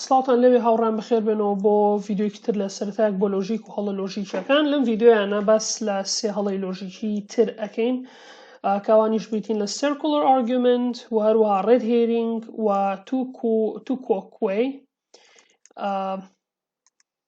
سڵاوتان لەوێ هاوڕێیان بەخێر بێنەوە بۆ ڤیدیۆیەکی تر لە سەرەتایەک بۆ لۆژیک و هەڵە لۆژیکیەکان لەم ڤیدیۆیانە باس لە سێ هەڵەی لۆژیکی تر ئەکەین کاوانیش بریتین لە سێرکولەر ئارگومنت و هەروەها ڕێد هێرینگ و تو کۆکوێ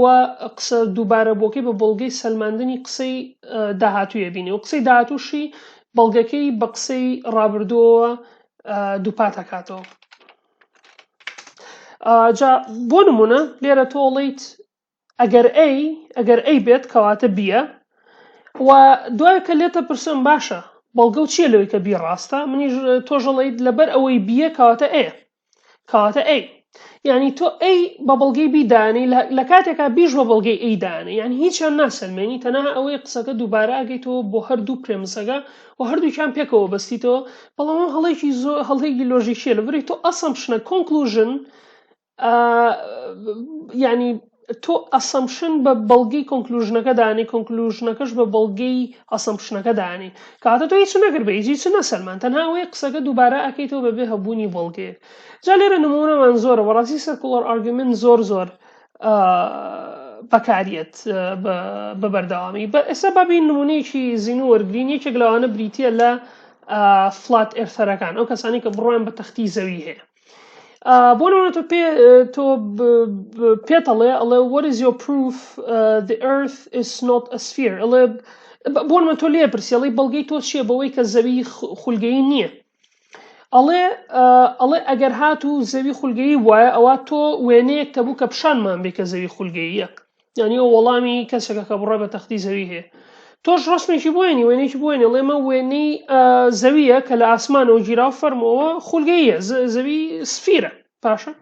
و قسە دووبارەبووەکەی بە بەڵگەی سەلماندنی قسەی داهاتووی ئەبینێ و قسەی داهاتووشی بەڵگەکەی بە قسەی ڕابردووەوە دووپات ئەکاتەوە جا بۆ نمونە لێرە تۆڵیت ئەگەر ئەی ئەگەر ئەی بێت کەواتە بیە و دوای کە لێتە پرسم باشە بەڵگە و چییە لەوەی کە بی ڕاستە منیش تۆژەڵیت لەبەر ئەوەی بیە کەواتە ئەیە کەواتە ئەی یعنی تۆ ئەی بە بەڵگەی بیدانی لە کاتێکا بیش بە بەڵگەی ئەی دانێ یعنی هیچیان ناسەلمێنی تەنها ئەوەی قسەکە دووبارە ئەگەیتەوە بۆ هەردوو پرێمسەکە و هەردووکیان پێکەوە بەستیتەوە بەڵام ئەو هەڵێکی زۆر هەڵێکی لۆژیکیە لە بری تۆ ئەسەم شنە کۆنکلوژن ینی تۆ ئەسەمشن بە بەڵگەی کۆنکلوژنەکە دانێی کۆنکلوژنەکەش بە بەڵگەی ئەسەمشنەکە دانێی کەواتە تۆ هیچ نەکرد بە هیچ هیچ نەسەلماند تەنها ئەوەیە قسەکە دووبارە ئەکەیتەوە بەبێ هەبوونی بەڵگەیەک جا لێرە نموونەمان زۆرە بەڕاستی سێرکوڵەر ئارگیومێنت زۆر زۆر بەکاریەت بە بەردەوامی بە ئێستا بابین نمونەیەکی زیینو وەرگین یەکێک لەوانە بریتە لە فلات ئێرثەرەکان ئەو کەسانی کە بڕوان بە تەختی زەوی هەیە بۆ نمونە تۆ پێ تۆ پێتەڵێ ئەڵێ what is your proof uh, the earth is not a sphere ئەڵێ بۆ نمونە تۆ لێ پرسی ئەڵێ بەڵگەی تۆ چییە بەوەی کە زەوی خولگەی نییە ئەڵێ ئەڵێ ئەگەر هات و زەوی خولگەی وایە ئەوە تۆ وێنەیەک تەبوو کە پیشانمان بێ کە زەوی خولگەیە یعنی ئەو وەڵامی کەسەکە کە بڕە بە تەختی زەوی هەیە تۆش ڕسمێکی بۆێنی وێنێکی بۆێنێ ڵێمە وێنەی زەویە کە لە ئاسمانەوە گیرا فەرمەوە خولگەیە زەوی سفیرە باشە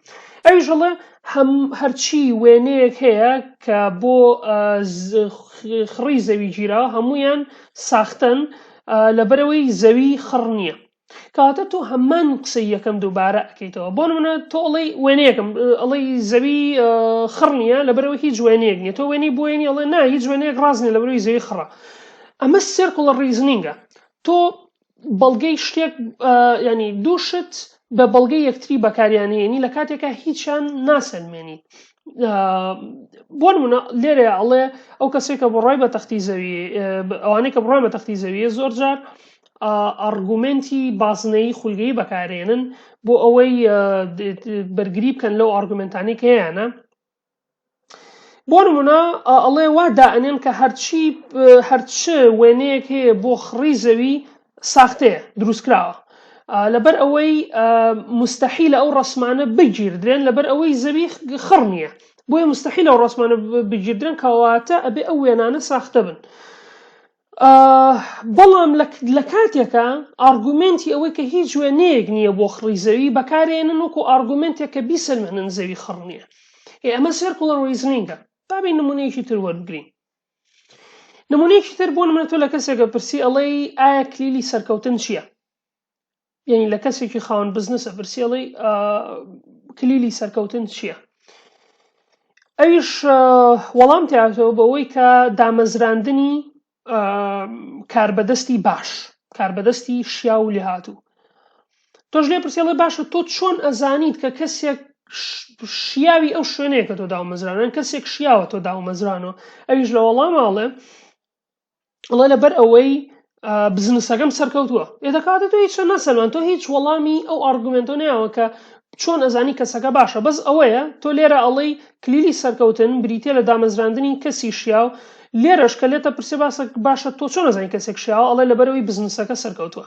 ئەویش هەڵێ هەم هەرچی وێنەیەک هەیە کە بۆ خڕی زەوی گیرا هەمویان ساختن لەبەرەوەی زەوی خڕ نییە کەواتە تۆ هەمان قسەی یەکەم دووبارە ئەکەیتەوە بۆ نمونە تۆ ئەڵی وێنەیەکم ئەڵی زەوی خڕ نییە لە بەرەوە هیچ وێنەیەک نیە تۆ وێنی بۆێنی ئەڵێ نا هیچ وێنەیەک ڕاستنی لە بەروی زەوی خڕە ئەمە سێرکڵە ڕیزنینگە تۆ بەڵگەی شتێک ینی دووشت بە بەڵگەی یەکتری بەکاریانهێنی لە کاتێکە هیچیان ناسەلمێنی بۆ منە لێرە ئەڵێ ئەو کەسێکە بڕای بە تەختی زەوی ئەوانەی کە بڕای بە تەختی زەویە زۆر جار ئارگومێنتی بازنەیی خولگەیی بەکارێنن بۆ ئەوەی بەرگری بکەن لەو ئارگومنتانی کە هەیەە بۆ نمونە ئەڵێ وا دائنێن کە هەرچی هەرچ وێنەیەک هەیە بۆ خڕی زەوی ساختەیە دروستکراوە لەبەر ئەوەی مستحی لە ئەو ڕسمانە بگیردرێن لەبەر ئەوەی زەوی خڕ نییە بۆیە مستحی لەو ڕسمانە بگیردرێن کەواتە ئەبێ ئەو وێنانە ساختە بن. بەڵام لە کاتێکا ئارگومێنتی ئەوەی کە هیچ وێنەیەک نییە بۆ خڕی زەوی بەکارێنن وەکو ئارگومنتێک کە بیسەلمێنن زەوی خڕ نییە ئێ ئەمە سێرکوڵەر ریزنینگە بابی نمونەیەکی تر وەربگرین نمونەیەکی تر بۆ منە تۆ لە کەسێکە پرسی ئەڵەی ئایا کلیلی سەرکەوتن چییە یەنی لە کەسێکی خاوەن بزنس ئەپرسی ئەڵی کلیلی سەرکەوتن چییە ئەویش وەڵام تاتەوە بەوەی کە دامەزراندنی کاربەدەستی باش کاربەدەستی شیا و لێهاتوو تۆش لێ پرسیڵێ باشە تۆ چۆن ئەزانیت کە کەسێک شیاوی ئەو شوێنەیە کە تۆ داومەزرانن کەسێک شیاوە تۆ داومەزرانەوە ئەویش لە وەڵاماڵێ ئەڵێ لەبەر ئەوەی بزنسەکەم سەرکەوتووە ئێ دەکاتە تۆ هیچ نەسەلمان تۆ هیچ وەڵامی ئەو ئارگومنتۆ نیاوە کە چۆن ئەزانی کەسەکە باشە بەس ئەوەیە تۆ لێرە ئەڵەی کلیلی سەرکەوتن بریتە لە دامەزراندنی کەسی شیاو لێرەش کە لێتە پرسێ باسە باشە تۆ چۆن ئەزانی کەسێک شیاوە ئەڵێ لەبەرەوەی بزنسەکە سەرکەوتووە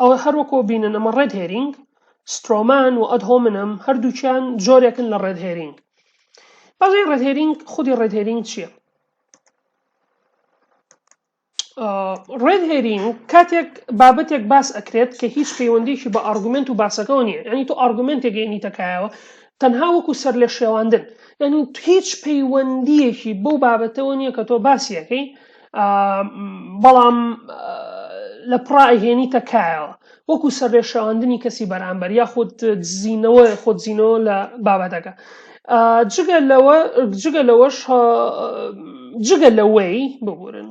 ئەوە هەر وەکۆ بینن ئەمە ڕێد هێرینگ سترۆمان و ئەد هۆمنم هەردووچیان جۆرێکن لە ڕێد هێرینگ بەڵێ ڕێد هێرینگ خودی ڕێد هێرینگ چییە ڕێد هێرینگ کاتێک بابەتێک باس ئەکرێت کە هیچ پەیوەندێکی بە ئارگومنت و باسەکەەوە نیە ینی تۆ ئارگومنتێک گەینیتەکایەوە تەنها وەکو سەر لە شێواندن یعنی هیچ پەیوەندیەکی بەو بابەتەوە نییە کە تۆ باسیەکەی بەڵام لە پڕا ئەهێنی تەکایەوە وەکو سەرێشاندنی کەسی بەرامبەر یاخود دزینەوە خۆدزینەوە لە بابەتەکە جگە لەوە جگە لەوەش جگە لەوەی ببورن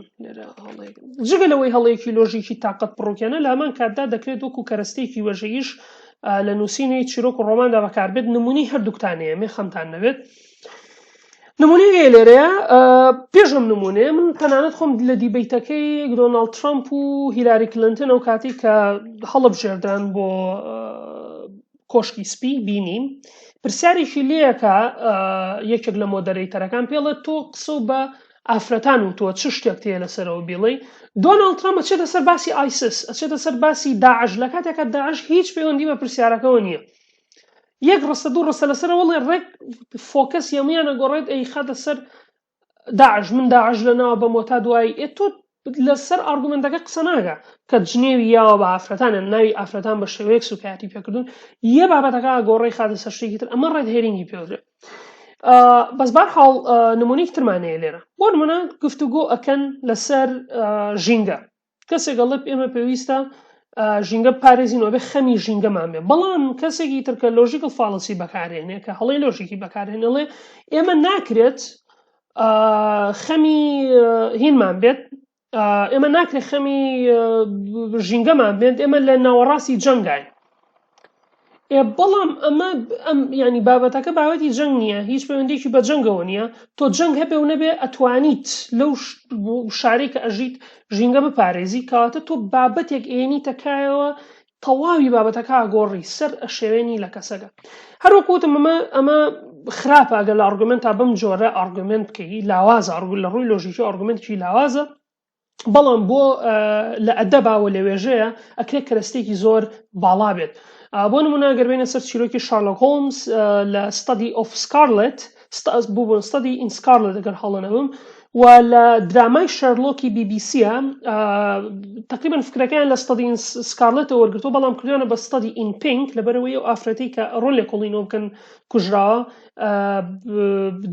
جگە لەوەی هەڵەیەکی لۆژیکی تااقەت پڕوکێنە لامان کاتدا دەکرێت وەکو کەرەستێکی وەژەیش لە نووسینەی چیرۆک و ڕۆماندا بەکاربێت نمونی هەردووکتانەیە مێ خەمتان نەبێت نمونەی ئێ لێرەیە پێش ئەم نمونەیە من تەنانەت خۆم لە دیبیتەکەی دۆناڵد ترامپ و هیلاری کلنتن ئەو کاتی کە هەڵب ژێردان بۆ کۆشکی سپی بینیم پرسیارێکی لەکە یەکێک لە مۆدەرەیتەرەکان پێڵێت تۆ قسە بە ئافرەتان و تۆ چ شتێک تێ لەسەرەوە بیڵی دۆناڵد ترامپ ئەچێتە سەر باسی ئایسس ئەچێتە سەر باسی داعش لە کاتێکە داعش هیچ پەیوەندی بە پرسیارەکەەوە نییە یەک ڕستە دوو ڕستە لەسەر وڵێ ڕێک فۆکەس یەمیان ئەگۆڕێت ئەی خاتە سەر داعش من داعش لە ناوە بە مۆتا دوایی ئێ تۆ لەسەر ئارگومنتەکە قسە ناگە کە جنێوی یاوە بە ئافرەتانیان ناوی ئافرەتان بە شێوەیەک سوکایەتی پێکردون یە بابەتەکە گۆڕی خاتە سەر شتێکی تر ئەمە ڕێت هێرینگی پێدرێت بەس بار حاڵ نمونەی ترمانەیە لێرە بۆ نمونە گفتوگۆ ئەکەن لەسەر ژینگە کەسێک ئەڵێت ئێمە پێویستە ژینگە پارێزین وبێ خەمی ژینگەمان بێ بەڵام کەسێکی ترکە لۆژیکل فاڵسی بەکارێنێ کە هەڵی لۆژیکی بەکارێن ئەڵێ ئێمە ناکرێت خەمی هینمان بێت ئێمە ناکرێت خەمی ژینگەمان بێت ئێمە لە ناوەڕاستی جەنگین بەڵام ئەمە ئەم ینی بابەتەکە باوەتی جەنگ نییە هیچ پەیوەندێکی بە جەنگەوە نییە تۆ جەنگ هەبێ و نەبێ ئەتوانیت لەو شارێک کە ئەژیت ژینگە بپارێزی کەواتە تۆ بابەتێک ئێنی تەکایەوە تەواوی بابەتەکە گۆڕی سەر ئەشێوێنی لە کەسەکە هەروەکوتم ئەمە ئەمە خراپە ئەگەر لە ئارگومنت تا بم جۆرە ئارگومنت بکەی لاوازە ئارگول لە ڕووی لۆژیکی ئارگومنتکی لاوازە بەڵام بۆ لە ئەدەبا و لە وێژەیە ئەکرێ کەرەستێکی زۆر باڵا بێت بۆ نمونە گەربێنە سەر چیرۆکی شارلۆک هۆمس لە ستادی ئۆف سکارلت بوون ستادی ئین سکارلت دەگەر هەڵەنەبم و لە درامای شەرلۆکی بیبیسیە تقریبان فکرەکەیان لە ستادی سکارلتەوە وەرگتو بەڵام کردیانە بە ستادی ئین پینک لەبەرەوەی ئەو ئافرەتی کە ڕۆل لە کۆڵینۆ بکەن کوژراوە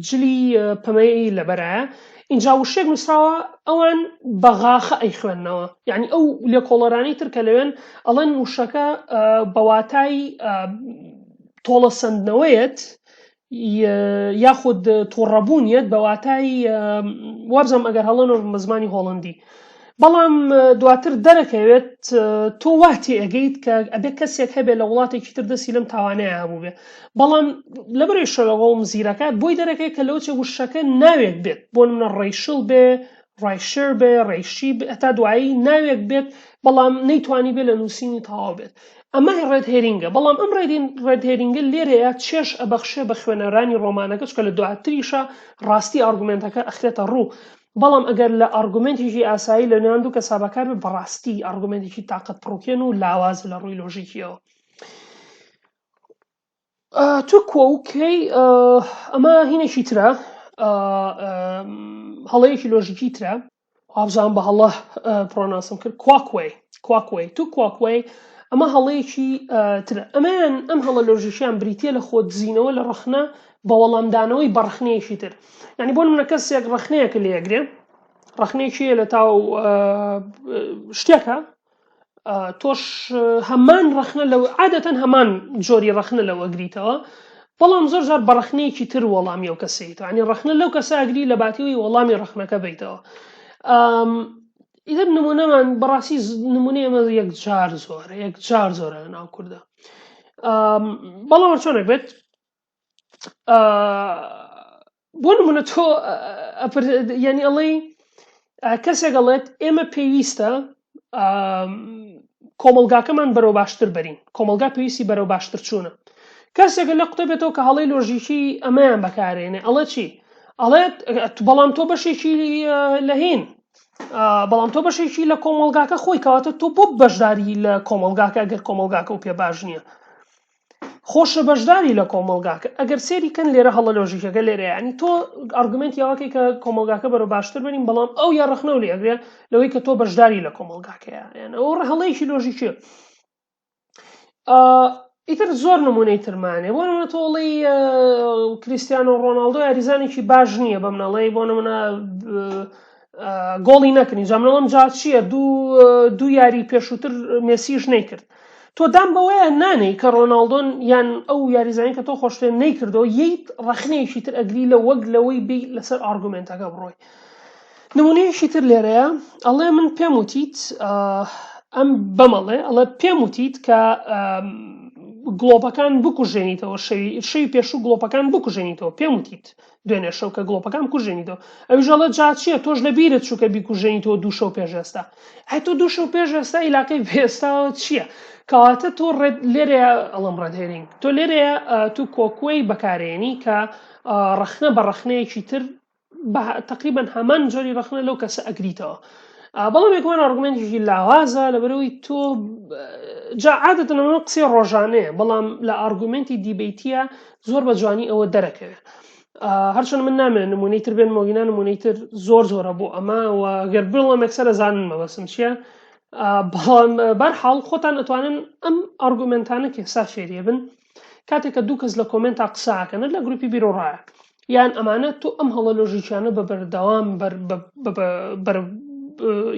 جلی پەمەیی لەبەرایە ئینجا وشێک نووسراوە ئەوان بەغاخە ئەی خوێندنەوە یعنی ئەو لێکۆڵەرانی تر کە لەوێن ئەڵەن وشەکە بەواتای تۆڵە سندنەوەیەت یاخود تۆڕەبوون یەت بەواتای وابزانم ئەگەر هەڵەنۆ بە زمانی هۆڵندی بەڵام دواتر دەرەکەوێت تۆ وا تێئەگەیت کە ئەبێ کەسێک هەبێ لە وڵاتێکی تر دەستی لەم تاوانەیە هەبوو بێ بەڵام لە بەرەی شەوەوە مزیرەکە بۆی دەرەکەی کە لەو چێ وشەکە ناوێک بێت بۆ منە ڕیشل بێ ڕایشر بێ ڕێشی ئەتا دوایی ناوێک بێت بەڵام نەیتوانی بێ لە نووسینی تەواو بێت ئەمە ڕێت هێرینگە بەڵام ئەم ڕێدین ڕێت هێرینگە لێرەیە چێش ئەبەخشێ بە خوێنەرانی ڕۆمانەکە چکە لە دواتریشە ڕاستی ئارگومنتەکە ئەخرێتە ڕوو بەڵام ئەگەر لە ئارگومێنتێکی ئاسایی لە نێوان دوو کەسا بەکار بێت بەڕاستی ئارگومێنتێکی تاقەت پڕوکێن و لاوازە لە ڕووی لۆژیکیەوە تو کۆکەی ئەمە هینێکی ترە هەڵەیەکی لۆژیکی ترە وابزان بە هەڵە پرۆناسم کرد کواکوێ کواکوێ تو کواکوێ ئەمە هەڵەیەکی تر ئەمەیان ئەم هەڵە لۆژیشیان بریتە لە خۆ دزینەوە لە ڕخنە بە وەڵامدانەوەی بە ڕەخنەیەکی تر یعنی بۆ منە کەسێک ڕەخنەیەکە لێگرێ ڕەخنێکی لە تاو شتێکە تۆش هەمان ڕەخنە لە عادەتەن هەمان جۆری ڕەخنە لەوە گریتەوە بەڵام زۆر زار بەڕەخنەیەکی تر وەڵامی ئەو کەسیتوانی ڕەخنە لەو کەساگری لە باتیەوەی وەڵامی ڕەخنەکە بیتەوە ئیدر نمونەمان بەڕاستی نمونە ئێمە یەک جار زۆرە یەک جار زۆرە لە ناو کووردە بەڵام چۆنێک بێت بۆ نمونە تۆ یعنی ئەڵێی کەسێک ئەڵێت ئێمە پێویستە کۆمەلگاکەمان بەرەو باشتر بەرین کۆمەلگا پێویستی بەرەو باشتر چوونە کەسێکە لە قوتەبێتەوە کە هەڵی لۆژیکی ئەمەیان بەکارێنێ ئەڵە چی ئەڵێت بەڵام تۆ بەشێکی لەهین بەڵام تۆ بەشێکی لە کۆمەلگاکە خۆی کەواتە تۆ بۆ بەشداری لە کۆمەلگاکە گەر کۆمەلگاکە و پێ باش نییە خۆشە بەشداری لە کۆمەڵگاکە ئەگەر سێری کەن لێرە هەڵە لۆژیکەکە لێرە ینی تۆ ئەرگومنت یاواکەی کە کۆمەلگاکە بەرە باشتر بنین بەڵام ئەو یا ڕخنە و لێگرێ لەوەی کە تۆ بەشداری لە کۆمەلگاکەیە یان ئەو ڕهڵەیەکی لۆژیکە ئیتر زۆر نمونەی ترمانێ بۆ نمە تۆڵی کریسیان و ڕۆناالدۆ یاریزانێکی باش نییە بەم نەڵی بۆ نمونە گۆڵی نەکرد ئینجا من ئەڵێم جا چییە دوو دوو یاری پێشووتر مێسیش نەیکرد تۆ دام بەوەیە نانەی کە ڕۆناالدۆن یان ئەو یاریزانانی کە تۆ خۆشتێ نەیکردەوە ییت ڕخنەیەکی تر ئەگری لە وەک لەوەی بی لەسەر ئارگومنتەکە بڕۆی نمونەیەکی تر لێرەیە ئەڵێ من پێم وتیت ئەم بەمەڵێ ئەڵێ پێم وتیت کە گڵۆپەکان بکوژێنیتەوە شەوی شەوی پێشوو گڵۆپەکان بکوژێنیتەوە پێم وتیت دوێنێ شەو کە گڵۆپەکان بکوژێنیتەوە. ئەویش ئەڵێ جا چییە تۆش لە بیرت چوو کە بیکوژێنیتەوە دوو شەو پێش ئێستا. ئای تۆ دوو شەو پێش ئێستا ئیلاقەی بە ئێستاوە چییە؟ کەواتە تۆ ڕێد لێرەیە ئەڵەم ڕێد هێرینگ تۆ لێرەیە تو کۆکوەی بەکارێنی کە ڕەخنە بە ڕەخنەیەکی تر تقریبا هەمان جۆری ڕەخنە لەو کەسە ئەگریتەوە. بەڵام یەکمان ئارگومنتێکی لاوازە لەبەرەوەی تۆ جا عادەتەوە قسەی ڕۆژانەیە بەڵام لە ئارگومنتی دیبیتە زۆر بە جوانی ئەوە دەرەکەوێت هەرچەند من نامێن نمونەی تر بێن مۆگینا نمونەی تر زۆر زۆرە بۆ ئەمە و گەر بڵم ئەکسەرە زانن مەبەسم چییە بەڵام بەرحاڵ خۆتان ئەتوانن ئەم ئەرگومنتانە کە سا فێریە بن کاتێکە دوو کەس لە کۆمنتا قساکەن لە گروپی بیرۆڕایە یان ئەمانە تۆ ئەم هەڵە لۆژیکیانە بە بەردەوام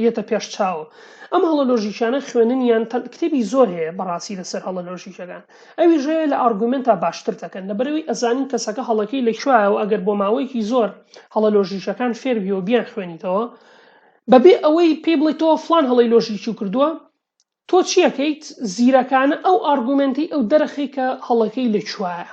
یەتە پێش چاوە ئەم هەڵە لۆژیکیانە خوێنن یان کتێبی زۆر هەیە بەڕاستی لەسەر هەڵە لۆژیکەکان ئەویش هەیە لە ئارگومێنتا باشتر دەکەن لەبەرەوەی ئەزانین کەسەکە هەڵەکەی لە کوێیە و ئەگەر بۆ ماوەیەکی زۆر هەڵە لۆژیکەکان فێر بی و بیان خوێنیتەوە بەبێ ئەوەی پێی بڵێ تۆ فلان هەڵەی لۆژیکی و کردووە تۆ چیەکەیت زیرەکانە ئەو ئارگومێنتی ئەو دەرەخی کە هەڵەکەی لە کوێیە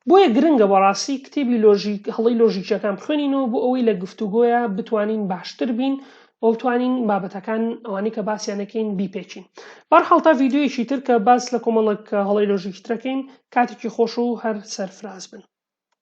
بۆیە گرنگە بەڕاستی کتێبی لۆژیک هەڵی لۆژیکیەکان بخوێنینەوە بۆ ئەوەی لە گفتوگۆیە بتوانین باشتر بین وە بتوانین بابەتەکان ئەوانەی کە باسیان دەکەین بیپێچین بەرحاڵ تا ڤیددیویەکی تر کە باس لە کۆمەڵک هەڵەی لۆژیکی ترەکەین کاتێکی خۆش و هەر سەرفراز بن